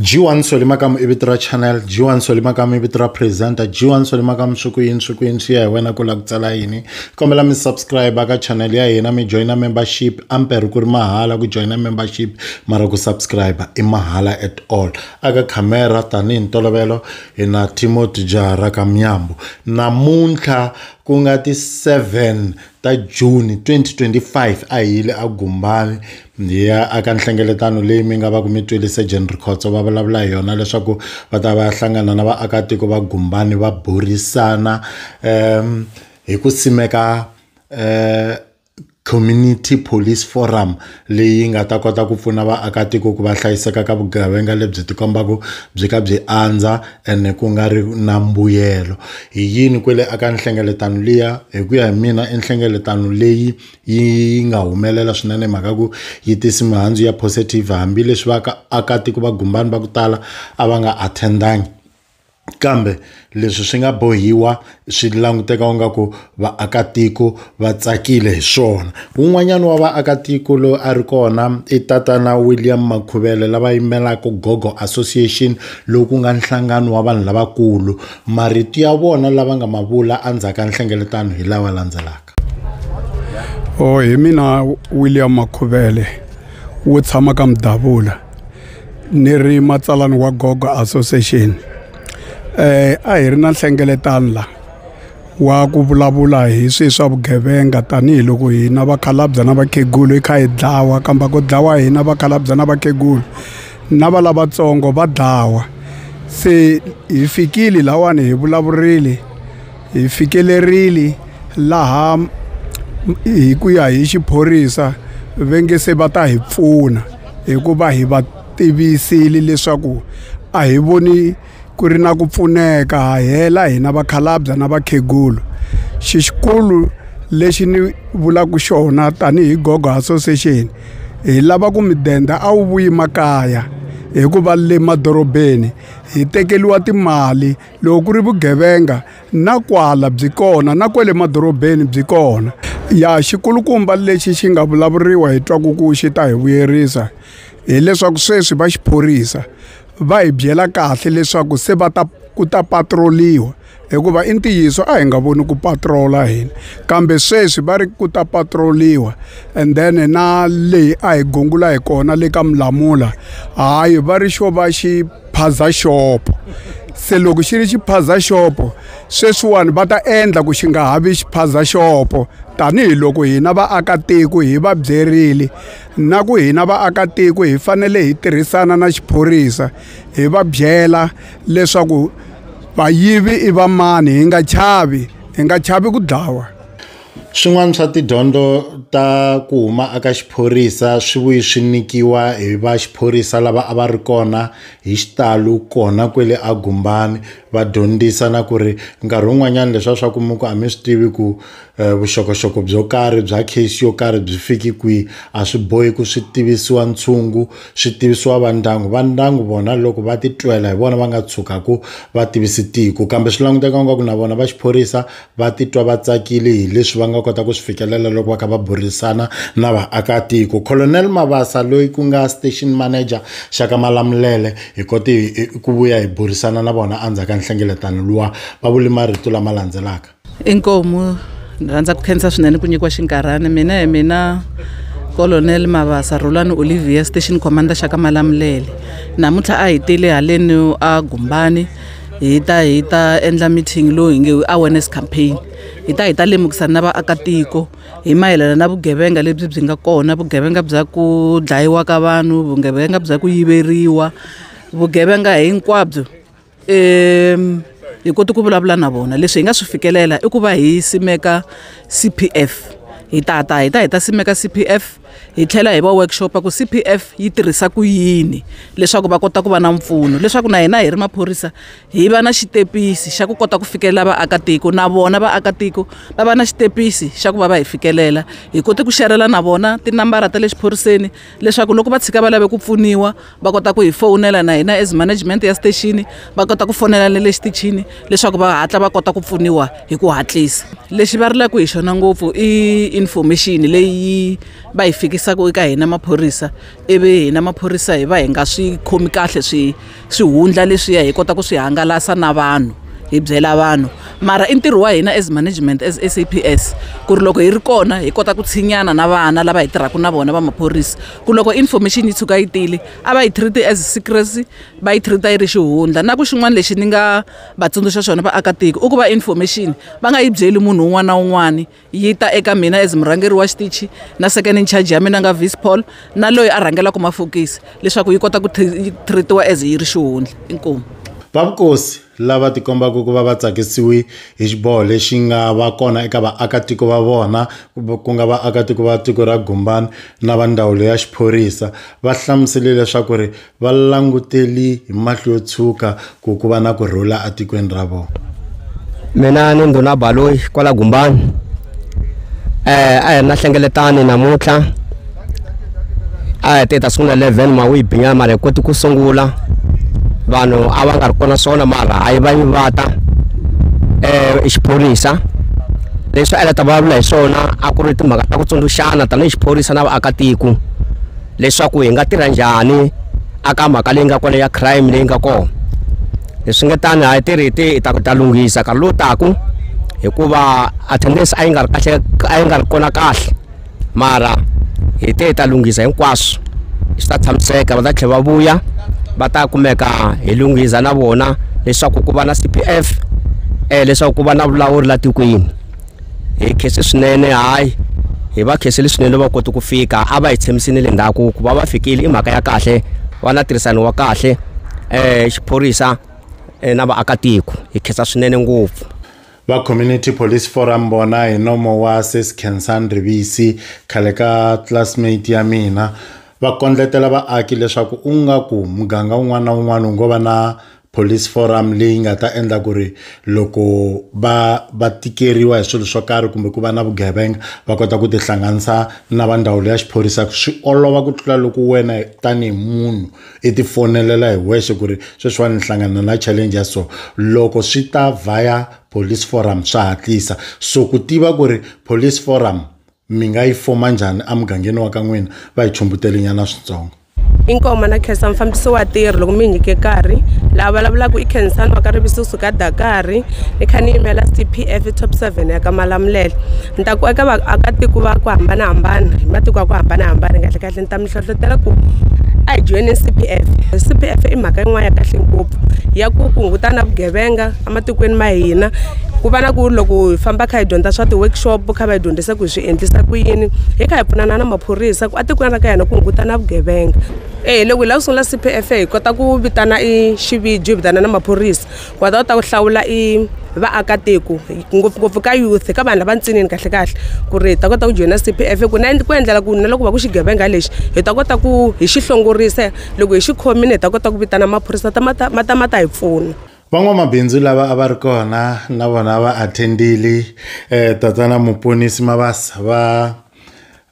G1 Soli Makamu i vito ra channel G1 Soli Makamu i vito ra presenter G1 Soli Makamu swi ku yini swi ku yini swi ya hi wena ku lava ku tsala yini kombela mi subscribe ka channel ya hina mi joina membership ampere ku ri mahala ku joina membership mara ku subscribe i mahala at all aka camera tanihi ntolovelo hi na Timothy Jahara Kamnyambo namuntlha Ku nga ti 7 ta Juni 2025 a hi yile eGumbani hi ya aka nhlengeletano leyi mi nga va ku mi twile Surgeon Rikhotso va vulavula hi yona leswaku va ta va ya hlangana na vaakatiko va Gumbani va burisana hi ku simeka . Community Police Forum leyi nga ta kota ku pfuna vaakatiko ku va hlayiseka ka vugevenga lebyi ti kombaka byi ka byi andza ene ku nga ri na mbuyelo hi yini kwele a ka nhlengeletano liya hi ku ya hi mina i nhlengeletano leyi yi nga humelela swinene hi mhaka ku yi tisi mihandzu ya positive hambileswi va ka akatiko va gumbani va ku tala a va nga attend-angi. kambe leswi swi nga bohiwa swi languteka u nga ku vaakatiko va tsakile hi swona wun'wanyana wa vaakatiko loyi a ri kona i tatana William Makhuvele lava yimelaka Gogo Association lowu ku nga nhlangano wa vanhu lavakulu marito ya vona lava nga ma vula endzhaku ka nhlengeletano hi lawa landzelaka. rixaka o hi mina william makhuvele wo tshama ka mudavula ni ri matsalani wa gogo association um a hi ri na nhlengeletano la wa ku vulavula hi swi swa vugevenga tanihiloko hina vakhalabya na vakhegulu hi kha hi dlawa kambe ku dlawa hina vakhalabya na vakhegulu na va lavatsongo va dlawa se hi fikile lawani hi vulavurile Hi fikelerile laha hi ku ya hi xiphorisa va nge se va ta hi pfuna hikuva hi va tivisile leswaku a hi voni ku ri na ku pfuneka ha hela hina vakhalabye na vakhegula xi xikulu lexi ni vulaka xona tanihi gogo association hi lava ku midende a wu vuyi makaya hikuva le madorobeni hi tekeriwa timali loko ku ri vugevenga na kwala byi kona na kwale madorobeni byi kona ya xikulukumba lexi xi nga vulavuriwa hi twaku ku xi ta hi vuyerisa hileswaku sweswi va xiphorisa va hi byela kahle leswaku se va ta ku ta patrol-iwa hikuva i ntiyiso a hi nga voni ku patrol-a hina kambe sweswi va ri ku ta patrol-iwa and then na leyi a hi gungula hi kona le ka mulamula hayi va ri xo va xi phaza xopo se loko xi ri xiphaza xopo sweswiwani va ta endla ku xi nga ha vi xiphaza xopo tanihiloko hina vaakatiko hi va byerile na ku hina vaakatiko hi fanele hi tirhisana na xiphorisa hi va byela leswaku vayivi i vamani hi nga chavi hi nga chavi ku dlawa Swin'wana swa tidyondzo ta ku huma eka xiphorisa swi vuye swi nyikiwa hi va xiphorisa lava a va ri kona hi xitalo kona kwale a gumbani va dyondzisa na ku ri nkarhi wun'wanyana leswi a swa ku mi ku a mi swi tivi ku vuxokoxoko byo karhi bya case yo karhi byi fiki kwihi a swi bohi ku swi tivisiwa ntshungu swi tivisiwa va ndyangu va ndyangu vona loko va titwela hi vona va nga tshukaka va tivisa tiko kambe swi languteka ingaku na vona va xiphorisa va titwa va tsakile hi leswi va nga kota ku swi fikelela loko va kha va burisana na vaakatiko colonel mabasa loyi ku nga station manager xaka malamulele hi kote ku vuya hi burisana na vona endzhaku ka nhlengeletano luwa va vule marito lama landzelaka inkomu ni rhandza ku khensa swinene ku nyikiwa xinkarhana mina hi mina colonel mavasa rolani olivia station commander xa ka malamulele namuntlha a hi tele haleni a gumbani hi ta hi ta endla meeting lowu hi nge i awareness campaign hi ta hi ta lemukisana na vaakatiko hi mayelana na vugevenga lebyi byi nga kona vugevenga bya ku dlayiwa ka vanhu vugevenga bya ku yiveriwa vugevenga hinkwabyo um hi koti ku vulavula na vona leswi hi nga swi fikelela i ku va hi simeka c p f hi ta ta hi ta hi ta simeka c p f hi tlhela hi va workshop ku CPF yi tirhisa ku yini leswaku va kota ku va na mpfuno leswaku na hina hi ri maphorisa hi va na xitepisi xa ku kota ku fikelela vaakatiko na vona vaakatiko va va na xitepisi xa ku va va hi fikelela hi kote ku xerhela na vona tinambara ta le xiphoriseni leswaku loko va tshika va lave ku pfuniwa va kota ku hi fowunela na hina as management ya station va kota ku fonela na le xitichini leswaku va hatla va kota ku pfuniwa hi ku hatlisa lexi va rilaka hi xona ngopfu i information leyi va yi fikisaka eka hina maphorisa ivi hina maphorisa hi va hi nga swi khomi kahle swi swihundla leswiya hi kota ku swi hangalasa na vanhu hi byela vanhu mara i ntirho wa hina as management as saps ku ri loko hi ri kona hi kota ku tshinyana na vana lava hi tirhaka na vona va maphorisa ku loko information yi tshuka yi tile a va yi treat as secrecy va yi treat yi ri xihundla na ku xin'wana lexi ni nga va tsundzuxa xona vaakatiko i ku va information va nga yi byeli munhu un'wana na un'wana yi ta eka mina as murhangeri wa xitichi na second in charge ya mina nga vice paul na loyi a rhangelaka mafokisi leswaku yi kota ku treatiwa as yi ri xihundla inkomu va vukosi lava tikombaka ku va va tsakisiwe hi xiboho lexi nga va kona eka vaakatiko va vona ku nga vaakatiko va tiko ra Gumbani na va ndzawulo ya xiphorisa va hlamusele leswaku ri va languteli hi mahlo yo tshuka ku ku va na ku rhula etikweni ra vona mina ni ndhuna baloyi kwala Gumbani eh a hi ri na hlengeletani namuntlha a hi te ta sungula 11 ma wu yi binyana mara hi koti ku sungula vanhu a va nga ri kona swona mara a yi va yi vata um xiphorisa leswi a yi la ta vulavula hi swona a ku ri timhaka ta ku tsundzuxana tanihi xiphorisa na vaakatiko leswaku hi nga tirha njhani aka mhaka leyi nga kona ya crime leyi nga kona leswi nga tani a hi tirhi hi ti hi ta ku ta lunghisa nkarhi lowu taku hikuva attendance a yi nga ri kahle a yi nga ri kona kahle mara hi te hi ta lunghisa hinkwaswo swi ta tshamiseka va ta tlhela va vuya va ta kumeka hi lunghisa na vona leswaku ku va na c p f um leswaku ku va na vulawuri la tikweni hi khese swinene hayi hi va khese leswinene va koti ku fika a va hi tshamisini le ndzhaku ku va va fikile i mhaka ya kahle va na tirhisano wa kahle um xiphorisa na vaakatiko hi khensa swinene ngopfu va community police forum vona hi nomo wa sis kensan rivisi khale ka classmate ya mina va kondletela vaaki leswaku u nga ku muganga wun'wana na wun'wana wu ngo va na police forum leyi nga ta endla ku ri loko va va tikeriwa hi swilo swo karhi kumbe ku va na vugevenga va kota ku tihlanganisa na va ndzawulo ya xiphorisa swi olova ku tlula loko wena tanihi munhu i ti fonelela hi wexe ku ri sweswiwani ni hlangana na challenge ya so loko swi ta via police forum swa hatlisa so ku tiva ku ri police forum mi nga yi foma njhani emugangeni wa ka n'wina va hi chumbutelinyana switsongo inkoma na khensa mufambisi wa tirhi loko mi nyike nkarhi laha vulavulaka i khensani wa ka rivisi suka dakari ni kha ni yimela s t p f top seven ya ka malamulele ni ta ku eka vaakatiko va ku hambanahambana hi matiko ya ku hambanahambana kahlekahle ni ta mi hlohlotela ku a hi joyineni cpf cpf i mhaka yin'wana ya kahle ngopfu ya ku ku hunguta na vugevenga ematikweni ma hina ku va na ku loko hi famba kha hi dyondza swa ti-workshop kha va hi dyondzisa ku hi swi endlisa ku yini hi kha hi pfunana na maphorisa ku etikweni ra ka hina ku hunguta na vugevenga e loko hi lava ku sungula cpf hi kota ku vitana i xiviji hi vitana na maphorisa wa ta kota ku hlawula i vaakatiko ngopfungopfu ka youth ka vanhu lava ntsinini kahlekahle ku ri hi ta kota ku joyina CPF ku na ku endlela ku na loko va ku xigevenga lexi hi ta kota ku hi xi hlongorisa loko hi xi khomile hi ta kota ku vitana maphorisa ta ma ta ma ta ma ta hi pfuna van'wamabindzu lava a va ri kona na vona va attendile eh tatana muponisi mabasa va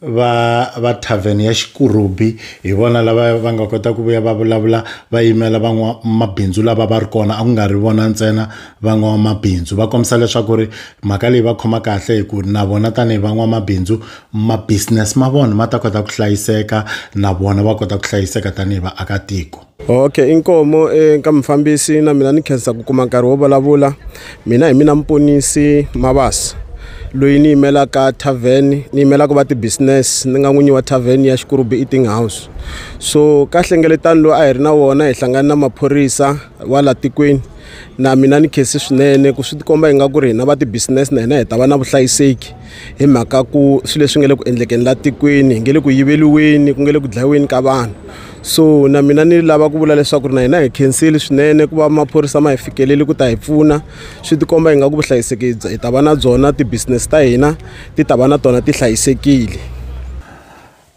va va tavern ya Xikurubi hi vona lava va nga kota ku vuya va vulavula va yimela van'wamabindzu lava va ri kona a ku nga ri vona ntsena van'wamabindzu va kombisa leswaku ri mhaka leyi va khoma kahle hi ku na vona tanihi van'wamabindzu ma business ma vona ma ta kota ku hlayiseka na vona va kota ku hlayiseka tanihi vaakatiko. okay inkomo eka mufambisi na mina ni khensa ku kuma nkarhi wo vulavula mina hi mina muponisi mabasa loyi ni yimelaka tavern ni yimelaka va ti-business ni nga n'winyi wa tavern ya xikurubi eating house so ka hlengeletano lowu a hi ri na wona hi hlangana na maphorisa wa la tikweni na mina ni khesi swinene ku swi tikomba hi nga ku ri hina va ti-business na hina hi ta va na vuhlayiseki hi mhaka ku swilo leswi nga le ku endlekeni la tikweni hi nge le ku yiveriweni ku nge le ku dlayiweni ka vanhu so na mina ni lava ku vula leswaku ri na hina hi khensile swinene ku va maphorisa ma hi fikeleli ku ta hi pfuna swi tikomba hi nga ku vuhlayiseki hi ta va na byona ti-business ta hina ti ta va na tona ti hlayisekile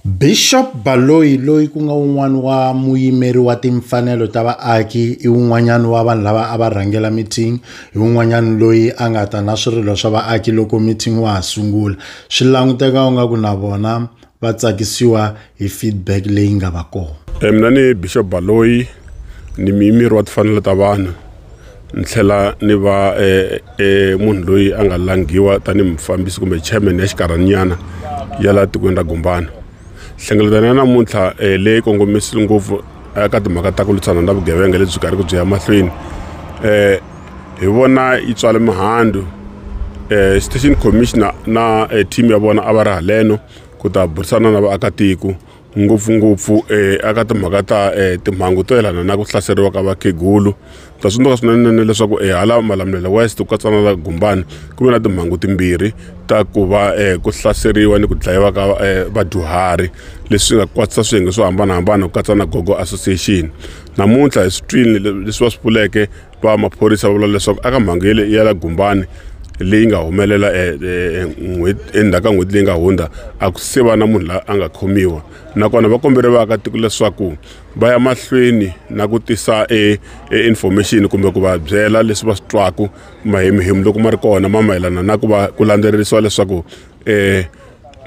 Bishop Baloyi loyi ku nga un'wana wa muyimeri wa timfanelo ta vaaki i un'wanyana wa vanhu lava a va rhangela meeting hi un'wanyana loyi a nga ta na swirilo swa vaaki loko meeting wa ha sungula swi languteka u nga ku na vona va tsakisiwa hi feedback leyi nga va kona e mina ni bishop baloyi ni miyimiri wa tifanelo ta vanhu ni tlhela ni va e, e munhu loyi a nga langhiwa tanihi mufambisi kumbe chairman ya xikarhaninyana ya laha tikweni ra gumbana hlengeletano ya namuntlha e, leyi kongomisi ngopfu eka timhaka ta ku lwisana na vugevenga lebyi karhi ku byi ya mahlweni um hi vona yi tswale mihandzu eh station commissioner na eh, team ya vona a va ri haleno ku ta burisana na vaakatiko ngopfungopfu eh aka timhaka ta eh timhangu to yelana na ku hlaseriwa ka vakhegulu ta tsundzuka swinene leswaku eh hala malamulelo west ku katsa na la gumbani ku ve na timhangu timbirhi ta ku va eh ku hlaseriwa ni ku dlayiwa ka eh, vadyuhari leswi nga kwatisa swiyenge swo hambanahambana ku katsa na gogo association namuntlha hi swi twile le- leswi va swi pfuleke va maphorisa va vula leswaku aka mhangu yele ya la gumbani leyi nga humelela e, e, e, endzhaku ka n'hweti leyi nga hundza a ku se va na munhu la a nga khomiwa nakona va kombele vaakatiko leswaku va ya mahlweni na ku tisa e, e information kumbe ku va byela leswi va swi twaku mahemuhemu loko ma ri kona ma mayelana na ku va ku landzelerisiwa leswaku um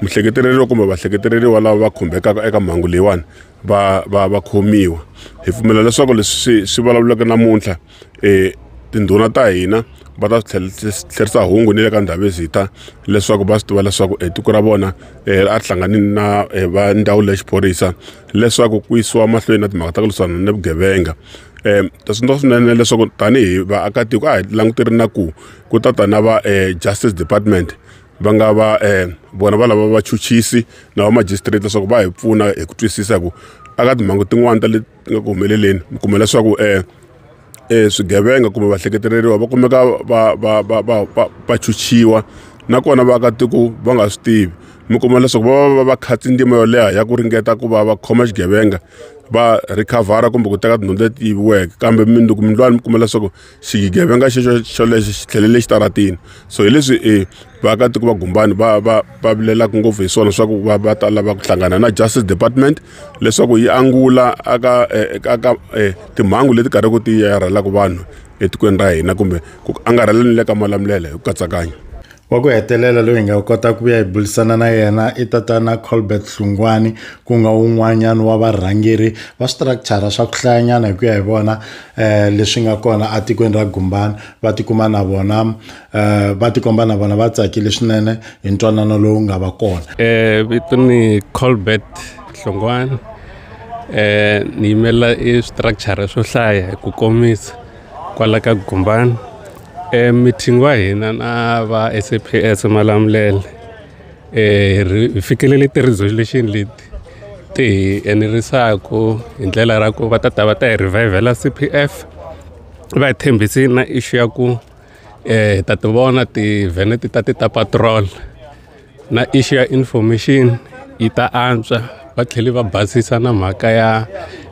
muhleketeleriwa kumbe vahleketeleriwa lava va khumbekaka eka mhangu leyiwani va va va khomiwa hi pfumela leswaku leswi swi swi vulavulaka namuntlha um tindhuna ta hina va ta swi tlherisa hungu ni le ka ndhavezitha leswaku va swi tiva leswaku um tiko ra vona um a ri hlangani na um va ndzawulo ya xiphorisa leswaku ku yisiwa mahlweni na timhaka ta ku lwisana ni vugevenga um ta swintswa swinene leswaku tanihi vaakatiko a hi languterile na ku ku ta ta na va um justice department va nga va um vona va lava vachuchisi na vamajistrate leswaku va hi pfuna hi ku twisisa ku aka timhangu tin'wani ta leti nga ku humeleleni mi kuma leswaku um eh, um eh, swigevenga kumbe vahleketeleriwa va kumeka va va va va va va chuchiwa nakona vaakatiko va nga swi tivi mi kuma leswaku va va va va khatsi ndzima yo leha ya ku ringeta ku va va khoma xigevenga va rhikhavhara kumbe ku teka tindhawu leti yiviweke kambe mindzuku mindlwani mi kuma leswaku xigevenga xexo xolexo xi tlhelele exitaratini so hi leswi um eh, vaakatiko va gumbani va va va vilelaka ngopfu hi swona swa ku va va ta lava ku hlangana na justice department leswaku yi angula aka eh, aka eh, timhangu leti karhiku ti yarhelaka vanhu etikweni ra hina kumbe ku angarhela ni le ka malamulele hi ku katsakanya wa ku hetelela loyi hi nga kota ku ya hi burisana na yena i tatana colbert hlungwani ku nga wun'wanyana wa varhangeri va structure swa ku hlayanyana hi ku ya hi vona um leswi nga kona etikweni ra gumbana va tikuma na vona um va tikomba na vona va tsakile swinene hi ntwanano lowu nga va kona um vito ni colbert hlungwani um ni yimela i structure swo hlaya hi ku komisa kwala ka gumbani e meeting wa hina na va SAPS Malamulele e hi fikelele ti-resolution leti ti hi enerisaku hi ndlela ra ku va ta ta va ta hi revivela CPF va hi tshembisi na issue ya ku hi ta ti vona ti-van ti ta ti ta patrol. na issue ya information yi ta antswa va tlhele va basisa na mhaka ya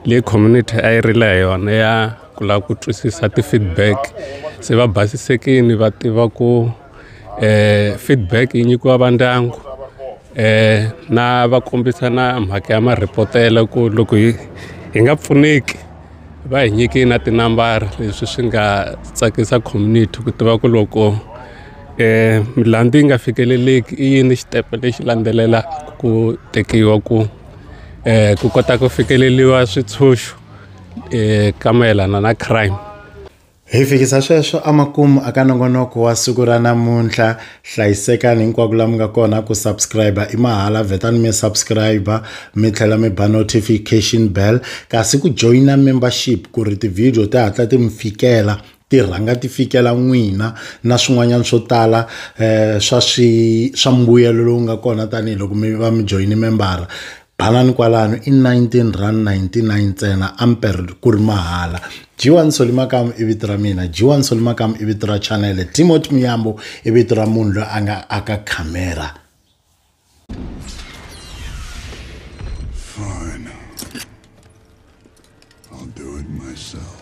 leyi community a yi rila hi yona ya ku lava ku twisisa ti-feedback se va basisekini va tiva ku um feedback yi nyikiwa va ndyangu eh na va kombisa na mhaka ya marhipotela ku loko hi hi nga pfuneki. va hi nyike na tinambara leswi swi nga tsakisa community ku tiva ku loko milandzu yi nga fikeleleki i yini xitepe lexi landzelelaka ku tekiwa ku ku kota ku fikeleriwa swintshuxo ka mayelana na crime. Hi fikisa sweswo amakumu aka nongonoko wa siku ra namuntlha hlayisekani hinkwako la mi nga kona ku subscribe i mahala vetani mi subscribe mi tlhela mi ba notification bell kasi ku joyina membership ku ri ti-video ti hatla ti mi fikela ti rhanga ti fikela n'wina na swin'wanyana swo tala um swa swi swa mbuyelo lowu nga kona tanihiloko mi va mi joyine membara Balani kwalano i 19 rand 99 ntsena amper ku ri mahala G1 Soli Makamu i vito ra mina G1 Soli Makamu i vito ra chanele Timothy Muyambo i vito ra munhu loyi a nga aka camera Fine. I'll do it myself.